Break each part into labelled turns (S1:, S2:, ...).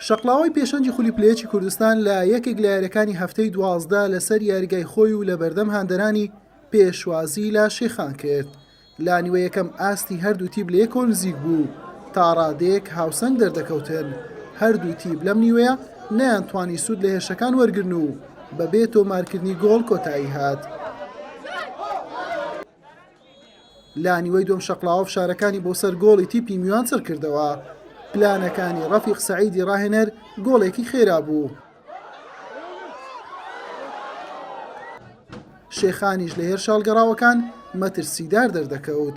S1: شەقڵاوەی پێشەنگی خولی پلەیەکی کوردستان لە یەکێک لە یاریەکانی هەفتەی دوازدە لەسەر یاریگای خۆی و لە بەردەم هاندەرانی پێشوازی لە شێخان کرد لا نیوە یەکەم ئاستی هەردوو تیب لە یەکۆ نزیک بوو تاڕادێک هاوسەنگ دەردەکەوتن هەردوو تیب لەم نیوەیە نیان توانی سوود لە هێرشەکان وەرگن و بەبێ تۆمارکردنی گۆڵ کۆتایی هات. لە نیوەی دووەم شەقڵاوە فشارەکانی بۆ سەر گۆڵی تیپی میوان چڕکردەوە، پلانەکانی ڕەفیق سەعیدی ڕاهێنەر گۆڵێکی خێرا بوو. شێخانیش لە هێرشە هەڵگەڕاوەکان مەترسیدار دەردەکەوت.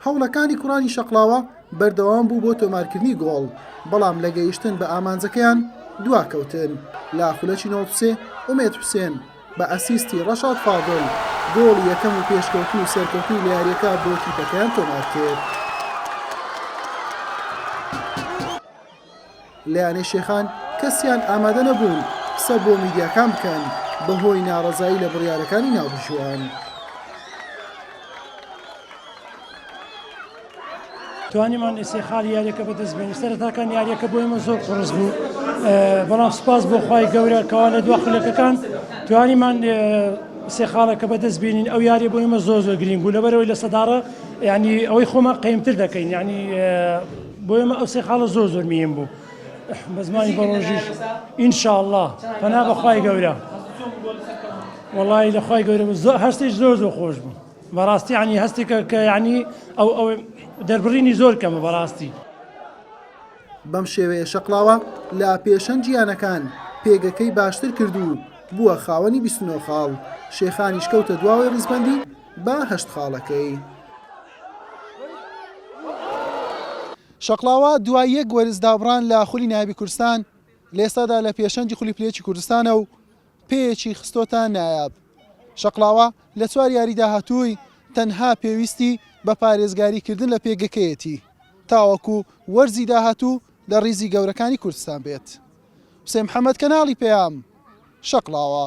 S1: هەوڵەکانی کوڕانی شەقڵاوە بەردەوام بوو بۆ تۆمارکردنی گۆڵ، بەڵام لە گەیشتن بە ئامانجەکەیان دواکەوتن، لە خولەکی نۆزدە ئومێد حوسێن، بە ئەسیستی ڕەشاد فاضل گۆڵی یەکەم و پێشکەوتن و سەرکەوتنی لە یارییەکە بۆ تیپەکەیان تۆمارکرد. لە یانەی شێخان کەسیان ئامادە نەبوون قسە بۆ میدیاکان بکەن بەهۆی ناڕەزایی لە بڕیارەکانی ناوبژیوان.
S2: توانیمان ئێسێ خالی یاریەکە بەدەست بێنی سەرتاکان یاریەکە بۆ ئمە زۆر قڕز بوو بەڵام سپاس بۆ خی گەورە کەوا لە دو خولەکەکان توانیمان سێ خاڵەکە بەدەست بینین ئەو یاری بۆ ئمە زۆر زۆر گرنگ بوو لەبەرەوەی لە سەداڕە ینی ئەوەی خۆمان قیمتر دەکەین ینی بۆ ئمە ئەو سێ خاڵە زۆر زۆر میم بوو بەزمانی بەڕۆژیش ئینشاءله پەنا بەخوای گەورە وڵی لەخوای گەورە زۆر هەستیش زۆر زۆر خۆش بوو بەڕاستی یانی هەستێکە کە یانی ئەو ئەو دەربڕینی زۆر کەمە بەڕاستی.
S1: بەم شێوەیە شەقڵاوە لە پێشەنگی یانەکان پێگەکەی باشتر کرد و بووە خاوەنی بیست و نۆ خاڵ، شێخانیش کەوتە دواوەی ڕیزبەندی بە هەشت خاڵەکەی. شەقڵاوە دوای یەک وەرز دابڕان لە خولی نایابی کوردستان، لە ئێستادا لە پێشەنگی خولی پلەیەکی کوردستانە و پێیەکی خستۆتە نایاب. شەقڵاوە لە چوار یاری داهاتووی تەنها پێویستی بە پارێزگاریکردن لە پێگەکەیەتی تاوەکو وەرزی داهاتوو لە ریزی گەورەکانی کوردستان بێت. حوسێن محەمەد، کەناڵی پەیام، شەقڵاوە.